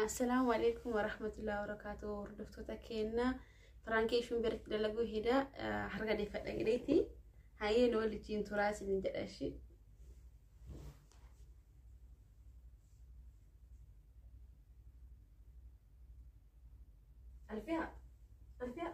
Assalaamu alaikum warahmatullahi wabarakatuh hordoftoota keenya piraankii ishiin biratti dalaguu hedaa harka deeffadha jedheeti hayyee nu waliin turaa isin jedha ishii. Alfiyaa Alfiyaa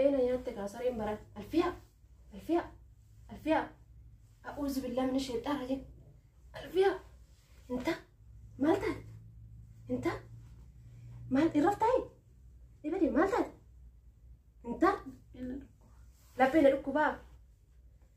ee na nyaatte kaa sareen baran alfiyaa alfiyaa alfiyaa a'uuzu billaa mina sheexxaa rajim alfiyaa inta maal taate inta maal irraf taa'e ibade maal taate inta Inni dhukkuba. laphee na dhukkubaa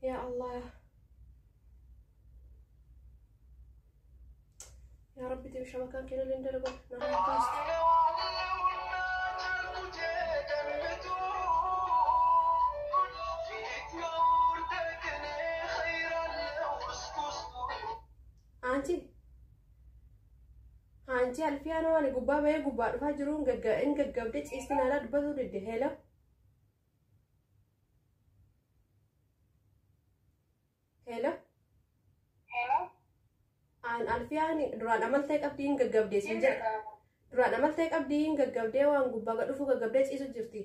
Ya Allah. Ya Rabbi debi shabakan kena lin dalagu. Nama pas. Anti. Anti alfiya no ani gubba baye gubba dhufa jirun gagga in gaggabde cisti nala dubatu didde hela. Hello. Hello. Aan Alfiyaan duraan amaltee qabdii hin gaggabdee siin Inni jedha. qabu. Duraan amaltee qabdii hin gaggabdee waan gubbaa gad dhufuu gaggabdee ciisu jirti.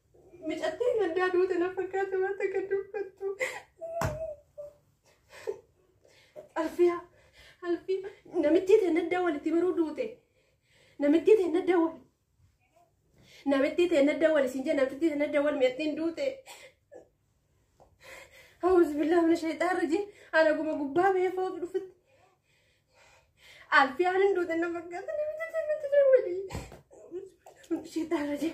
Micattiin gaddaa duute na fakkaata waan takka dubbattu. Alfiyaa, alfii, namittii ta'e naddaa walitti baruu duute. Namittii ta'e naddaa wali. Namittii ta'e naddaa wali siin jee namittii ta'e naddaa wali micattiin duute. Hawwis billaa mana shayxaan rajii ana guma gubbaa bahee fooqi dhufutti. Alfiyaan hin duute na fakkaata namittii ta'e naddaa wali. Shayxaan rajii.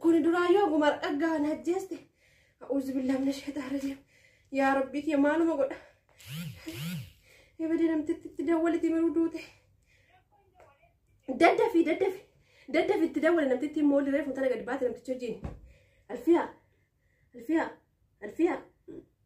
Kuni duraayyuu oguma dhaggaa na ajjeeste. A'uuzu billaa mina sheetaa rajiim. Yaa rabbii kee maaluma godha. Ebadee namtitti itti dawwaliti miruu duute. Daddafi daddafi. Daddafi itti dawwale namtitti immoo oliree fuutana gadi baate namticha wajjin. Alfiyaa. Alfiyaa. Alfiyaa.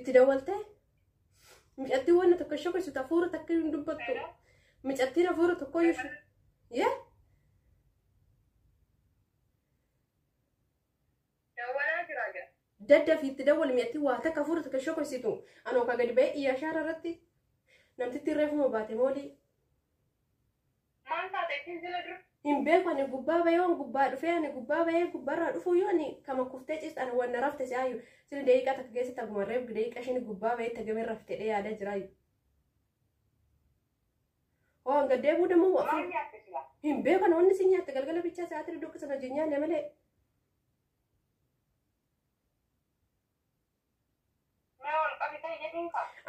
Itti dawwaltee micattiin wanna tokko ishee keessatti hafuura takka hin dubbattu. Micattiin hafuura tokko ishee. Yee? Dawwalaa jira jira. Dadda fi itti dawwali micattiin waa takka hafuura takka ishee keessattu. Anoo ka gadi ba'ee iyyaa shaara irratti namtittiin reefuma baate moolii. Maal taate ittiin jira dur? Hin beeku ani gubbaa bahee waan gubbaa dhufee ani gubbaa bahee gubbaarraa dhufuu yoo ani kama kuftee ciistu ani waan na rafte si ayyu sili daqiiqaa takka keessatti akkuma reef daqiiqa ishiin gubbaa bahee tagamee rafte dhee yaadaa jira ayyu. Hoo hanga deebuu dammoo Maal waqtii nyaatte sila? hin beeku ani wanni si nyaatte galgala bichaa sa'aatii dukkisa na jinyaan malee.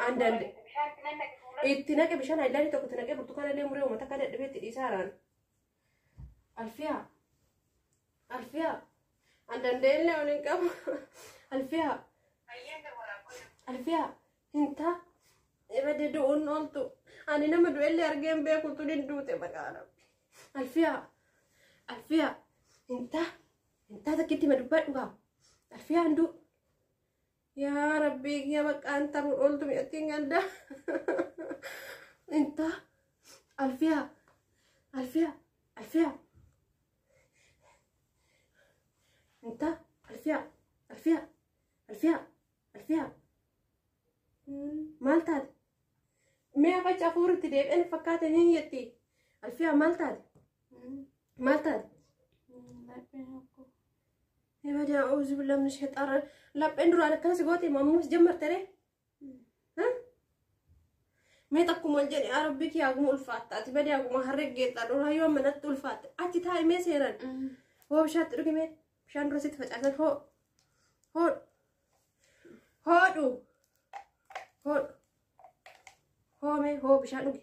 And and itti naqe bishaan ayilaanii tokko itti naqe burtukaana illee muree uummata akka dadhabee itti dhiisaa haaraan. Alfiyaa. Alfiyaa. And and illee ol hin qabu. Alfiyaa. Alfiyaa. Hin taa. Ibadde du'uun ooltu. Ani nama du'ellee argee hin beeku tun hin duute maqaa rabbi. Alfiyaa. Alfiyaa. Hin taa. Intaa takkitti ma dubbadhu kaa. Alfiyaa hunduu. Yaa rabbii kiyya bakka an taruun ooltu mi'attiin gandaa. Intaa. Alfiyaa. Alfiyaa. Alfiyaa. Intaa. Alfiyaa. Alfiyaa. Alfiyaa. Alfiyaa. Maal taate? Mee afacha afuuritti deebi'an fakkaate ni jetti. Alfiyaa maal taate? Maal taate? Ibada auzu billah min shayxaara lapheen duraan akkana si goote ammas jammarte ree? Mee takkuma ol jedhe yaa rabbi kee haguma ulfaatta ati badee haguma harreggeetta duraa yoo manatti ulfaatte achi taa'e mee seeran hoo bishaatti dhugi mee bishaan dura sitti facaasan hoo hoo hoodhu hoodhu hoo mee hoo bishaan dhugi